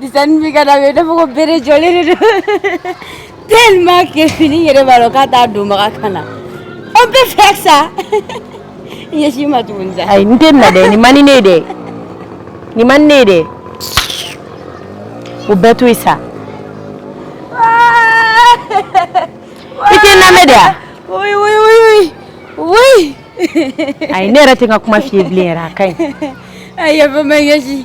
Dizayn mi ka da b'a de fɔ ko bere jɔlen de don tellement que fini yɛrɛ b'a dɔn k'a t'a donbaga kan na an bɛ fɛ sa ɲɛsin n ma tuguni sa ayi n tɛ na dɛ nin man di ne ye dɛ nin man di ne ye dɛ o bɛɛ to yen sa i tɛ n lamɛn de wa. oui oui oui oui oui. ayi ne yɛrɛ tɛ n ka kuma f'i ye bilen yɛrɛ a ka ɲi. ayi yafa n ma ɲɛsin.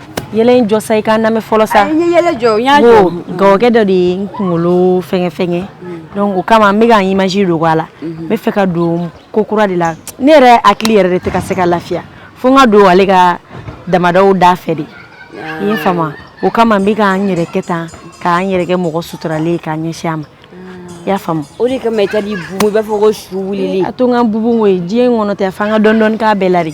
yɛlɛ in jɔ sa i ka n lamɛn fɔlɔ sa n ye yɛlɛ jɔ n y'a jɔ gawakɛ dɔ de ye n kunkolo fɛngɛ fɛngɛ donc o kama n bɛ ka n image dogo a la n bɛ fɛ ka don ko kura de la ne yɛrɛ hakili yɛrɛ de tɛ ka se ka lafiya fo n ka don ale ka damadaw da fɛ de i y'a faamu o kama n bɛ ka n yɛrɛ kɛ tan ka n yɛrɛ kɛ mɔgɔ suturalen ye k'a ɲɛsin a ma i y'a faamu o de kama i ka di bubu i b'a fɔ ko su wulili a to n ka bubu koyi diɲɛ in kɔnɔ tɛ f'an ka dɔɔni dɔɔni k'a bɛɛ la de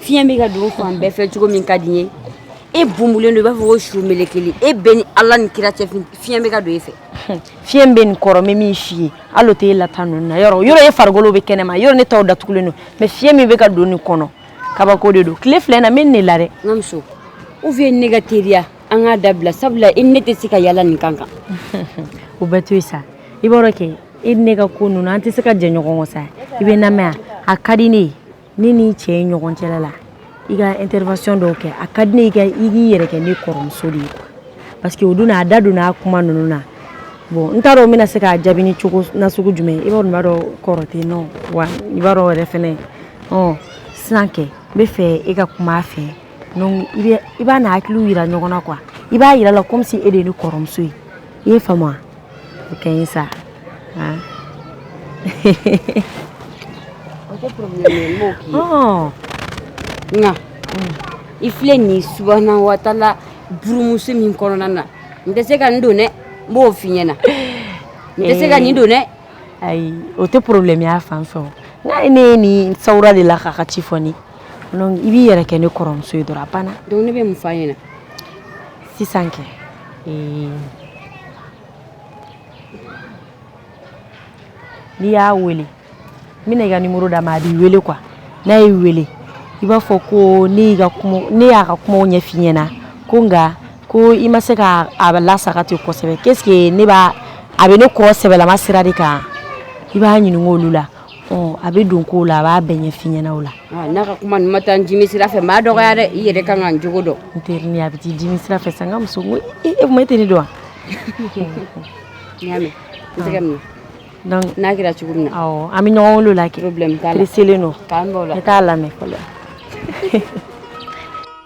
fiɲɛ bɛ ka don fan bɛɛ fɛ cogo min ka di n ye e bumulen don i b'a fɔ ko su melekeli e bɛ ni ala ni kira cɛ fiɲɛ bɛ ka don e fɛ fiɲɛ bɛ nin kɔrɔ n bɛ min f'i ye hali o tɛ e lata ninnu na yɔrɔ yɔrɔ e farikolo bɛ kɛnɛma yɔrɔ ne taw datugulen don mais fiɲɛ min bɛ ka don nin kɔnɔ kabako de don tile filɛ na n bɛ nin de la dɛ n ka muso ou bien ne ka teriya an k'a dabila sabula i ne tɛ se ka yala nin kan kan o bɛɛ to yen sa i b'a dɔn kɛ e ni ne ka ko ninnu an tɛ se ka jɛ ɲɔgɔn kɔ sa i bɛ n lamɛn a ka di ne ye ne ni cɛ ye ɲɔgɔn cɛla la i ka intervention dɔw kɛ a ka di ne ye i ka i k'i yɛrɛ kɛ ne kɔrɔmuso de ye quoi parce que o don na a da donna a kuma ninnu na bon n t'a dɔn n bɛna se k'a jaabi ni cogo nasugu jumɛn i b'a dɔn b'a dɔn kɔrɔ tɛ n na wa i b'a dɔn yɛrɛ fɛnɛ ɔ sisan kɛ n bɛ fɛ e ka kuma a fɛ donc i bɛ i b'a n'a hakiliw yira ɲɔgɔn na quoi i b'a yira a la comme si e de ye ne kɔrɔmuso ye i y'a faamu wa o kɛ n ye sa han o tɛ problème ye n b'o k'i ye ɔɔ nka i filɛ nin ye subahana wa taala burumuso min kɔnɔna na n tɛ se ka nin don dɛ n b'o f'i ɲɛna n tɛ se ka nin don dɛ ayi o tɛ problème y'a fan fɛ o n'a ye ne ye nin sawura de la k'a ka ci fɔ ne ye donc i b'i yɛrɛ kɛ ne kɔrɔmuso ye dɔrɔn a banna donc ne bɛ mun f'a ɲɛna sisan kɛ Ee n'i y'a weele n bɛna i ka numéro d'a ma a b'i weele quoi n'a y'i weele i b'a fɔ ko ne y'a ka kumaw ɲɛfɔ i ɲɛna ko nka ko i ma se ka a lasaga ten kosɛbɛ qu'est ce que a bɛ ne kɔ sɛbɛlama sira de kan i b'a ɲininka olu la a bɛ don kow la a b'a bɛɛ ɲɛf'i ɲɛna o la n'a ka kuma ma taa n dimi sira fɛ maa dɔgɔya dɛ i yɛrɛ kan ka n jogo dɔn n terini a bɛ t'i dimi sira fɛ sa n ka muso e tɛ ne dɔn wa n'a kɛra cogo min na an bɛ ɲɔgɔn wele o la kɛ presselen don t'a lamɛn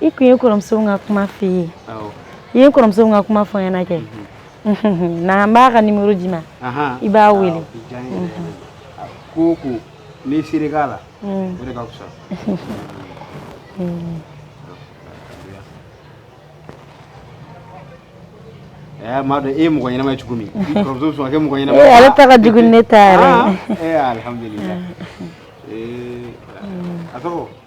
i k'u ye kɔrɔmuso ka kuma f'i ye i ye kɔrɔmuso ka kuma fɔ ɲɛna kɛ na an b'a ka nimɔrɔ d'i ma i b'a wele ko ko n'i siri k'a la o de ka fisa Eh, m'a dɔn e ye mɔgɔ ɲɛnama ye cogo min kɔrɔmuso sɔn kɛ mɔgɔ ɲɛnama ye ale ta ka jugu ni ne ta yɛrɛ ye alhamdulilayi a tɔgɔ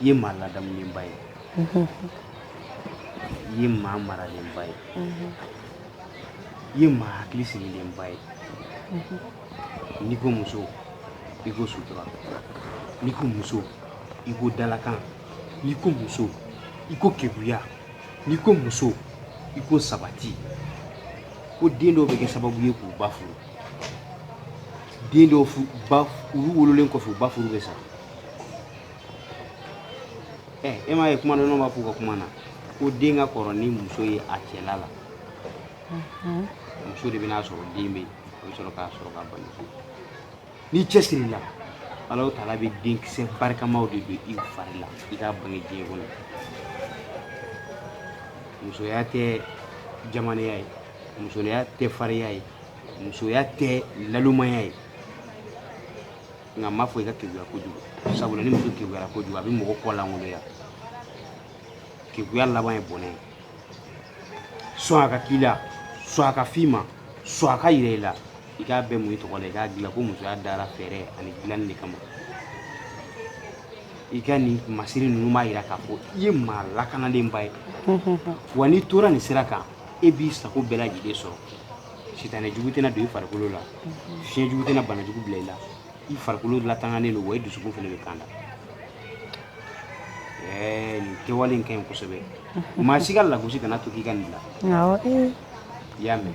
i ye maa ladamulenba ye i ye maa maralenba ye i ye maa hakili sigilenba ye n'i ko muso i ko sutura n'i ko muso i ko dalakan n'i ko muso i ko keguya n'i ko muso i ko sabati ko den dɔw bɛ kɛ sababu ye k'u ba furu den dɔw ba olu wololen kɔfɛ u ba furu bɛ sa ɛ e m'a ye kumadɔnnaw b'a fɔ u ka kuma na ko den ka kɔrɔ ni muso ye a cɛla la muso de bɛ n'a sɔrɔ den bɛ yen o bɛ sɔrɔ k'a sɔrɔ k'a bange n'i cɛsiri la ala o taala bɛ denkisɛ barikamaw de don i fari la i k'a bange diɲɛ kɔnɔ musoya tɛ jamanaya ye musoya tɛ fariya ye musoya tɛ nalomaya ye nka n m'a fɔ i ka keguya kojugu sabula ni muso keguyara kojugu a bɛ mɔgɔ kɔ lankoloya keguya laban ye bɔnɛ ye sɔn a ka k'i la sɔn a ka f'i ma sɔn a ka yira i la i k'a bɛɛ muɲu i tɔgɔ la i k'a dilan ko musoya dara fɛɛrɛ ani dilanni de kama i ka nin masiri ninnu b'a yira k'a fɔ i ye maa lakanalenba ye wa n'i tora nin sira kan e b'i sago bɛɛ lajɛlen sɔrɔ sitanɛ jugu tɛna don i farikolo la fiɲɛ jugu tɛna bana jugu bila i la i farikolo latanganen don wa i dusukun fana bɛ kanda ɛɛ nin kɛwale in ka ɲi kosɛbɛ maa si ka lagosi kana to k'i ka nin bila i y'a mɛn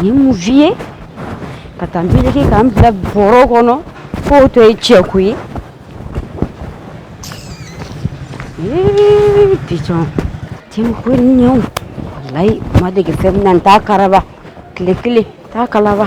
Ni mun vi ye ka taa nege k'an bila bɔrɔ kɔnɔ k'o tɔgɔ ye cɛku ye bitɔn tɛ ko ɲɛ walayi n ma dege fɛn min na n t'a karaba tile kelen t'a kalaba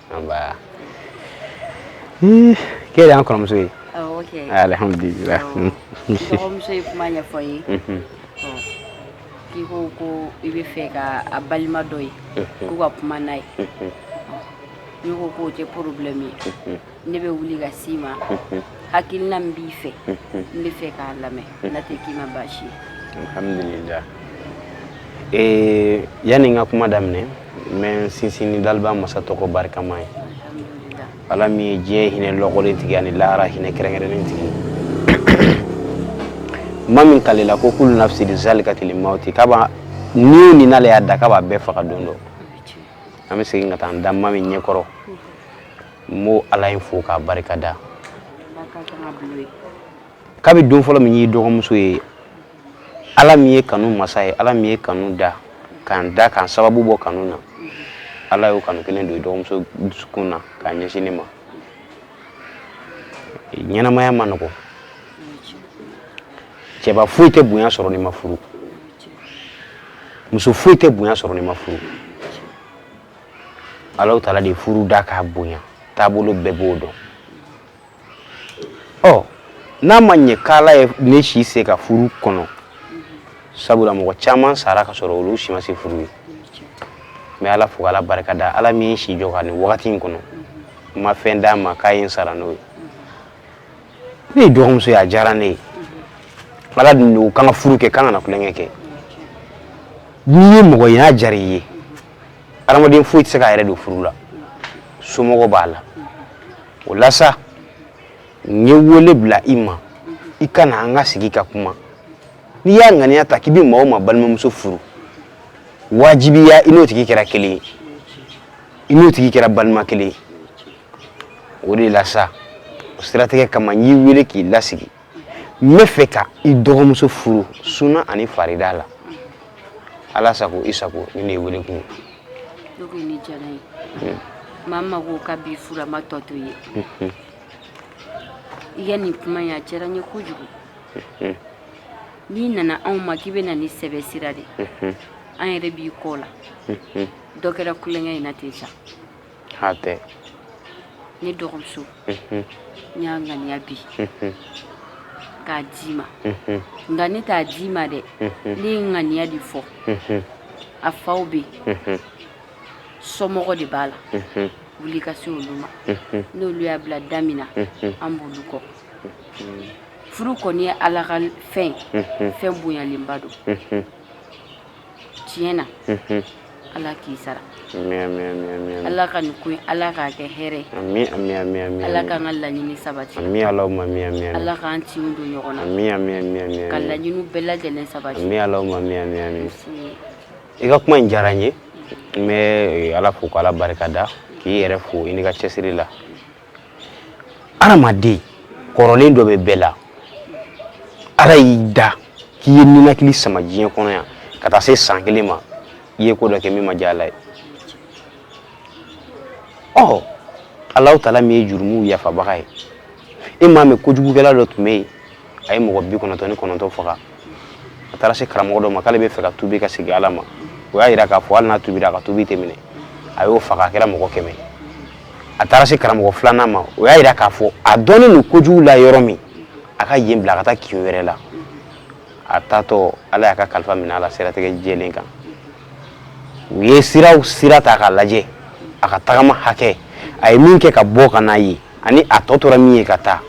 anba k'e de y'an kɔrɔmuso ye alihamudulila n dɔgɔmuso ye kuma ɲɛfɔ n ye k'i ko ko i bɛ fɛ ka a balima dɔ ye k'u ka kuma n'a ye ne ko k'o tɛ porobilɛmu ye ne bɛ wuli ka s'i ma hakilina min b'i fɛ n bɛ fɛ k'a lamɛn n'a tɛ k'i ma baasi ye alihamudulila yanni n ka kuma daminɛ n bɛ n sinsin ni daliba masa tɔgɔ barikama ye ala min ye diɲɛ hinɛ lɔgɔlen tigi ani lahara hinɛ kɛrɛnkɛrɛnnen tigi ma min kalela ko kulu nafsi zalikatili mauti k'a b'a ni o ni n'ale y'a da k'a b'a bɛɛ faga don dɔ an bɛ segin ka taa an da ma min ɲɛkɔrɔ n b'o ala in fo k'a barikada kabi don fɔlɔ min y'i dɔgɔmuso ye Ala min ye kanu masa ye ala min ye kanu da k'an da k'an sababu bɔ kanu na ala y'o kanu kelen don i dɔgɔmuso dusukun na k'a ɲɛsin ne ma ɲɛnamaya ma nɔgɔ cɛba foyi tɛ bonya sɔrɔ n'i ma furu muso foyi tɛ bonya sɔrɔ n'i ma furu ala taala de furu da k'a bonya taabolo bɛɛ b'o dɔn ɔ n'a ma ɲɛ k'ala ye ne si se ka furu kɔnɔ sabula mɔgɔ caman sara ka sɔrɔ olu si ma se furu ye n bɛ ala fo ala barika da ala min ye si jɔ ka nin wagati in kɔnɔ n ma fɛn d'a ma k'a ye n sara n'o ye ne y'i dɔgɔmuso ye a diyara ne ye ala dun don k'an ka furu kɛ k'an kana kulonkɛ kɛ n'i ye mɔgɔ ye n'a diyara i ye adamaden foyi tɛ se k'a yɛrɛ don furu la somɔgɔ b'a la o la sa n ye wele bila i ma i ka na an ka sigi ka kuma n'i y'a ŋaniya ta k'i bɛ maa o maa balimamuso furu wajibiya i n'o tigi kɛra kelen ye i n'o tigi kɛra balima kelen ye o de la sa o siratigɛ kama n y'i wele k'i lasigi n bɛ fɛ ka i dɔgɔmuso furu suna ani farida la ala sago i sago nin de ye wele kun ye ko nin diyara n ye hmm. maa min ma ko k'a b'i furu a ma tɔ to ye hmm. i ka nin kuma in a diyara n ye kojugu hmm. n'i nana anw ma k'i bɛ na ni sɛbɛ sira de an yɛrɛ b'i kɔ la dɔ kɛra kulonkɛ in na ten sa tɛ ne dɔgɔmuso n y'a ŋaniya bi k'a d'i ma nka ne t'a d'i ma dɛ ne ye ŋaniya de fɔ a faw bɛ yen somɔgɔ de b'a la wuli ka se olu ma n'olu y'a bila da min na an b'olu kɔ furu kɔni ye ala ka fɛn ye fɛn bonyalenba don tiɲɛ na ala k'i sara ala ka nin ko ala k'a kɛ hɛrɛ ala k'an ka laɲini sabati ala k'an tin don ɲɔgɔn na ka laɲini bɛɛ lajɛlen sabati i ka kuma in diyara n ye n bɛ ala fo k'ala barika da k'i yɛrɛ fo i n'i ka cɛsiri la adamaden kɔrɔlen dɔ bɛ bɛɛ la ala y'i da k'i ye ninakili sama diɲɛ kɔnɔ yan ka taa se san kelen ma i ye ko dɔ kɛ min ma diya ala ye ɔ ala taala min ye jurumuw yafabaga ye e m'a mɛn kojugukɛla dɔ tun bɛ yen a ye mɔgɔ bi kɔnɔntɔn ni kɔnɔntɔn faga a taara se karamɔgɔ dɔ ma k'ale bɛ fɛ ka tubi ka segin ala ma o y'a jira k'a fɔ hali n'a tubira a ka tubi tɛ minɛ a y'o faga a kɛra mɔgɔ kɛmɛ a taara se karamɔgɔ filanan ma o y'a jira k'a fɔ a dɔnnen don kojugu la yɔrɔ min a ka yen bila a ka taa kin wɛrɛ la a taatɔ ala y'a ka kalifa minɛ a la siratigɛ jɛlen kan u ye siraw sira ta k'a lajɛ a ka tagama hakɛ a ye min kɛ ka bɔ ka na yen ani a tɔ tora min ye ka taa